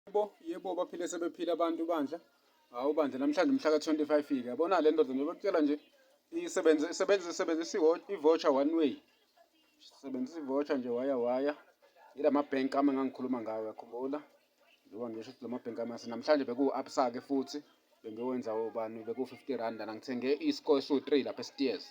Yebo, yebo baphile sebephila abantu bandla. Hawu bandla namhlanje umhla ka-25 fika. Yabona le ndoda nje bakutshela nje isebenze isebenze isebenzisa i-voucher one way. Sebenzisa i-voucher nje waya waya. Ila mabhenki ami engangikhuluma ngawo yakhumbula. Njengoba ngisho ukuthi la mabhenki ami namhlanje bekuwu-Absa-ke futhi bengiyowenza obani bekuwu-50 rand lana ngithenge i-score esiwu-3 lapha esitiyezi.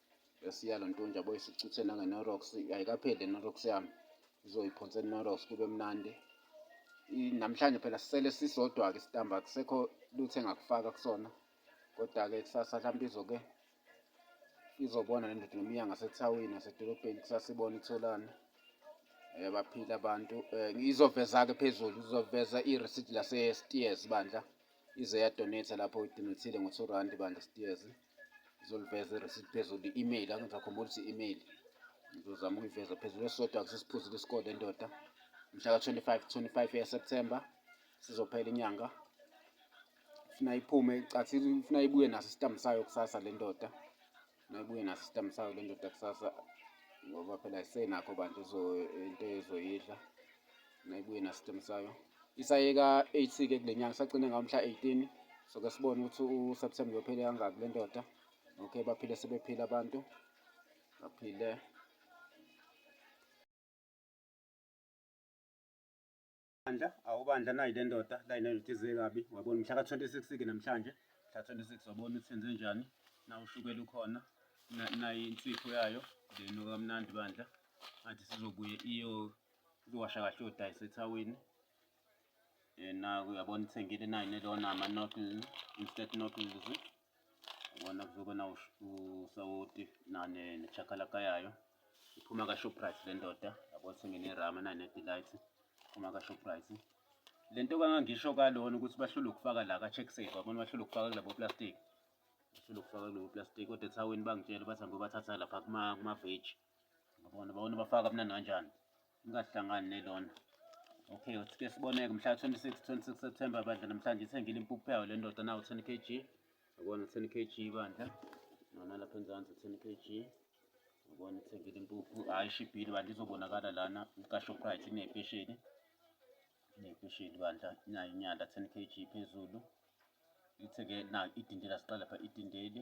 Yasiya lo ntunja boy sicuthe nangenorox ayikapheli le norox yami izoyiphonsa enorox kube mnandi namhlanje phela sisele sisodwa-ke isitamba kusekho lutho engakufaka kusona kodwa-ke kusasa hlampe izoke izobona le ndoda noma iya ngasethawini nasedolobheni kusasa ibona itholane um eh, baphile abantu um izoveza-ke phezulu izoveza irisidi lase-steers bandla ize yadonetha lapho idonethile ngo-two rand bandla steers ngizoliveza ireceipt phezulu i-email angizakhumbula ukuthi i-email ngizozama ukuyiveza phezulu esisodwa akusesiphuzile isikole endoda mhla ka-25 25 yaseptemba sizophela inyanga funa iphume cathi funa ibuye naso isitambu sayo kusasa le ndoda funa ibuye naso isitambu sayo le ndoda kusasa ngoba phela isenakho bantu into ezoyidla nayibuye nastem sayo isayeka 8 ke kule nyanga isagcine ngawo mhla 18 so ke sibone ukuthi uSeptember uyophele kangaki le ndoda okay baphile sebephila abantu baphile bandla awubandla nayi le ndoda la inendoda ize kabi wabona mhla ka-26 ke namhlanje mhla 26 wabona ukuthi senze njani na ushukela ukhona nayi insipho yayo then okamnandi bandla ngathi sizobuye iyo Uzowasha kahle uyodayisa ethawini. Eh, naku uyabona ithengile nayo nelona ama-noodles instant noodles ubona kuzobe na usawoti nechakalaka yayo iphuma ka-shoprite le ndoda yabo ithenge nerama nayo ne-delight iphuma ka-shoprite le nto kangangisho kalona ukuthi bahlule ukufaka la ka-check safe babona bahlule ukufaka kulabo plastic bahlule ukufaka kulobo plastic kodwa ethaweni bangitshela bathi angibe bathatha lapha kuma-vage kuma Ngabona bawona bafaka kamnandi kanjani. Ingahlangani nelona. Okay, uthi ke siboneke mhla 26 26 September bandla namhlanje ithengile impuphu yayo le ndoda nawo 10 kg. Yabona 10 kg bandla. Nona lapha enzansi 10 kg. Yabona ithengile impuphu. Hayi shibhile bandla izobonakala lana ka Shoprite inepesheni. Inepesheni bandla inayo inyanda 10 kg phezulu. Ithe ke na idindela siqala pha idindeli.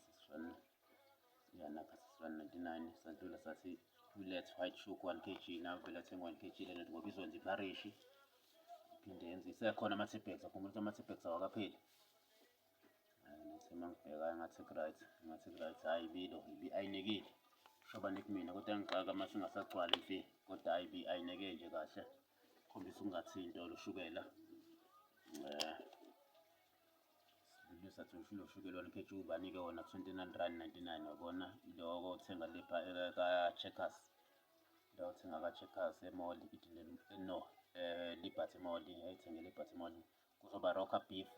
sisifana siyanakha sisifana 99 sadlula sathi let's white shook 1 kg nawe vele athenga 1 kg lena ngoba izonza iparishi iphinde yenze isekhona ama-tipex akhumbula ukuthi ama-tipex awakapheli ngathi uma ngibheka ngathi right ngathi right hhayi ibilo ibi ayinikile shoba nikumina kodwa ngixaka uma singasagcwali imfi kodwa hhayi ibi ayineke nje kahle khombisa ukungathinto lushukela um eh, Sibili sathi ushilo ushukela wona ikhetshini ubanike wona 29 rand 99 wabona iloko uthenga lepha eka-checkers la uthenga ka-checkers emoli ithi no eh liberty moli ayithenge liberty moli kuzoba rocker beef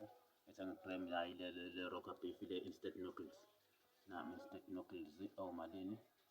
ethenga ibrem yayi le rocker beef le instant noodles nami instant noodles omalini oh,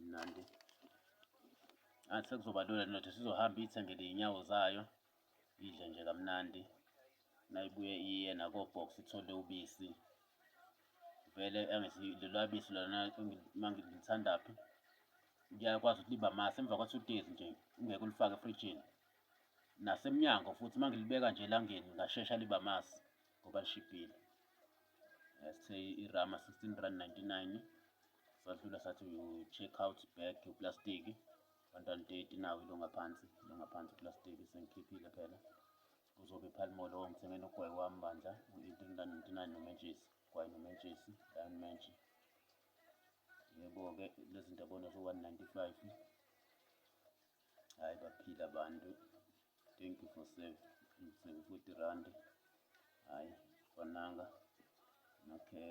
mnandi ngathi sekuzoba lula ndoda sizohamba iyithengele iy'nyawo zayo idle nje kamnandi nayibuye iye nakobox ithole ubisi vele angithi lolwa bisi lona uma ngilithandaphi ngiyakwazi ukuthi liba mase emva kwa-two days nje ungeke ulifake efrijini nasemnyango futhi uma ngilibeka nje elangeni ngashesha liba mase ngoba lishibhile sithe irama 16 rand 99 Sadlula sathi uyu-check out bag yoplastiki bantwana date nawo ilo ngaphansi ilo ngaphansi uplastiki sengikhiphile phela kuzobe iphalimolo ongithengele ugwayi wami bandla u-eighteen rand ninety-nine nomentshisi gwayi nomentshisi lion mentshi yebo-ke lezi zinto abona zo-one ninety-five hhayi baphila abantu thank you for save seven-forty rand hhayi kwananga okay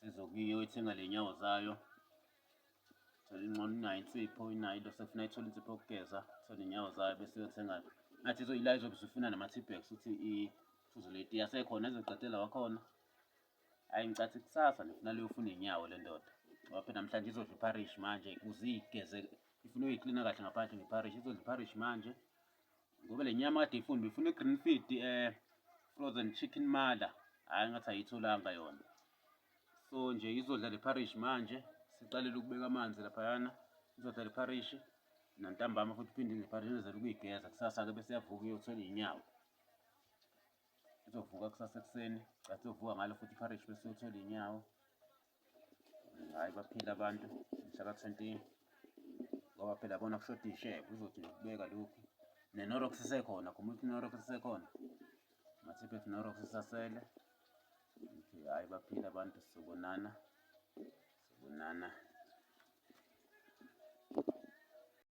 Sizo kiyo ithenga lenyawo zayo. Thola incono inayo insipho inayo into sefuna ithola insipho yokugeza thola inyawo zayo bese yothenga ngathi izoyila izobe isifuna nama-tipex ukuthi iphuzo leti yasekhona izoqedela wakhona hhayi ngicathi kusasa ndifuna leyofuna inyawo le ndoda ngoba phela namhlanje izodla ipharishi manje kuze igeze ifuna uyiklina kahle ngaphandle ngepharishi izodla ipharishi manje ngoba le nyama kade ifuna befuna i-green feed um frozen chicken mother hhayi ngathi ayitholanga yona so nje izodla le parish manje siqalele ukubeka amanzi laphayana izodla le parish nantambama futhi phinde le parish izele ukuyigeza kusasa-ke bese yavuka iyothola iy'nyawo izovuka kusasa ekuseni cathi izovuka ngalo futhi iparish bese yothola iy'nyawo hhayi baphila abantu mhlaka 20 ngoba phela bona kushoda ishebe uzothi nokubeka lokhu nenorox isekhona khoma ukuthi inorox isekhona mathiphe ethi norox isasele ngithi hhayi baphila abantu sobonana sobonana